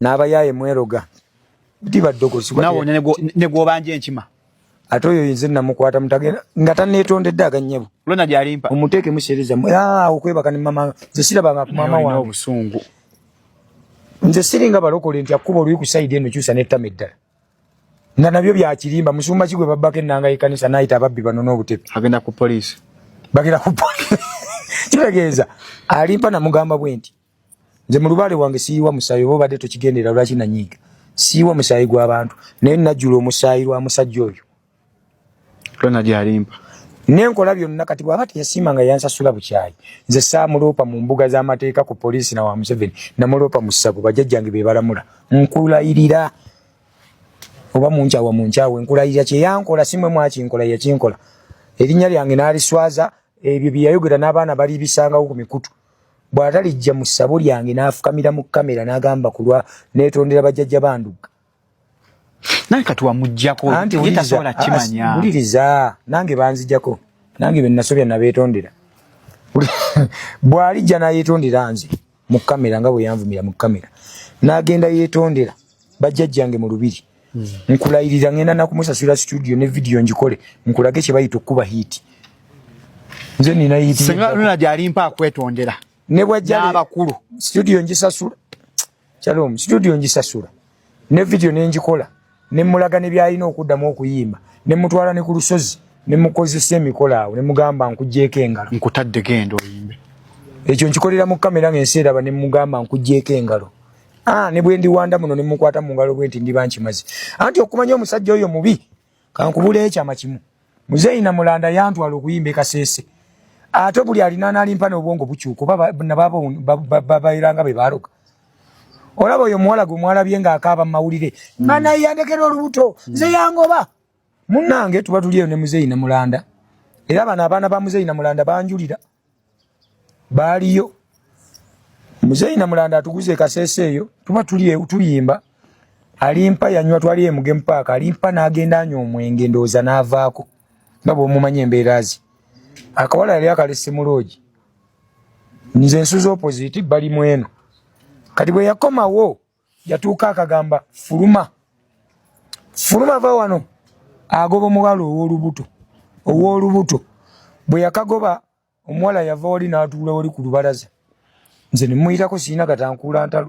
n'abayaaye mweroga diba ddogozi nawe ne gwobanja enkima ate oyo yinze namukwata mutagenda nga taneetondedde aganyabo lona gyalimpa omuteeke musereza okwebaka ne mama nze sirabanga ku mama wange obusungu nze siringa balokole nti akkuba oluyi ku sayidi eno kyusa n'ettama eddala nga nabyo byakirimba musumba kigwe babbako ennanga y'ekkanisa n'ayita ababbi bano n'obutepe agenda ku poliisi bagenda ku poliisi kitegeeza alimpa namugamba bwe nti nze mulubale wange siyiwa musayi oba obadde tokigendera lwaki nanyiiga siyiwa musayi gwabantu naye najjula omusayi lwa musajja oyo tona gyalimpa nenkola byonna kati bwaba teyasiima nga yansasula bukyayi nze saamuloopa mu mbuga z'amateeka ku poliisi na wa museveni namuloopa mu ssabo bajajjange be balamula nkulayirira oba munkyawa munkyawe nkulayirira kyeyankola simwe mwakinkola yakinkola erinnya lyange naaliswaza ebyo byeyayogera n'abaana balibisangawo ku mikutu bwatalijja mu ssabo lyange n'afukamira mu kamera n'agamba ku lwa neetondera bajjajja bandugga naye kati wamuggyako ye tasobola kimanya wuliriza nange banzijako nange be nasobya nabeetondera bw'alijja n'ayeetondera nze mu kamera nga bwe yanvumira mu kamera n'agenda yeetondera bajjajjange mu lubiri hmm. nkulayirira ngenda nakumusasira studio ne vidiyo ngikole nkulage kye bayita okukuba hiiti nze nina hiitinuna gyalimpa akwetondera ne bwajjaabakulu studio ngisasula kyalomu studio ngisasula ne vidiyo nengikola ne mulaga ne byalina okuddamu okuyimba ne mutwala ne ku lusozi ne mukozesa emikola awo ne mugamba nkuggyeko engalo nkutadde genda oyimbe ekyo nkikolera mu kamera ng'ensi eraba ne mugamba nkuggyeko engalo Ah, ne bwendi wanda muno ne mukwata mu ngalo bwenti ndi banchi mazi. Anti okumanya omusajja oyo mubi. Kankubule echa machimu. Muzeyi na mulanda yantu alokuyimbe kasese. Ato buli alina nali mpana obwongo buchu kuba na baba baba, baba iranga be baroka. Olaba oyo mwala gwe mwala byenga akaba mawulire. Mm. Mana yandekero olubuto. Mm. Ze yangoba. Munange tuba tuliyo ne muzeyi na mulanda. Era bana abana ba muzeyi na mulanda banjulira. baaliyo muzeeyi namulanda atuguza ekasese eyo tuba tuliyimba alimpa yanywa twali emugemu paaka alimpa n'agenda anywa omwenge ndowooza n'avaako nga bwomumanya embeera ze akawala yali akalese muloogi nze nsuza opposite bali mweno kati bwe yakomawo yatuuka akagamba fuluma fuluma va wano agoba omuwala owolubuto owolubuto bwe yakagoba omuwala yava wali n'atuula wali ku lubalaza nze ne muyitako sirina gatankuula ntalo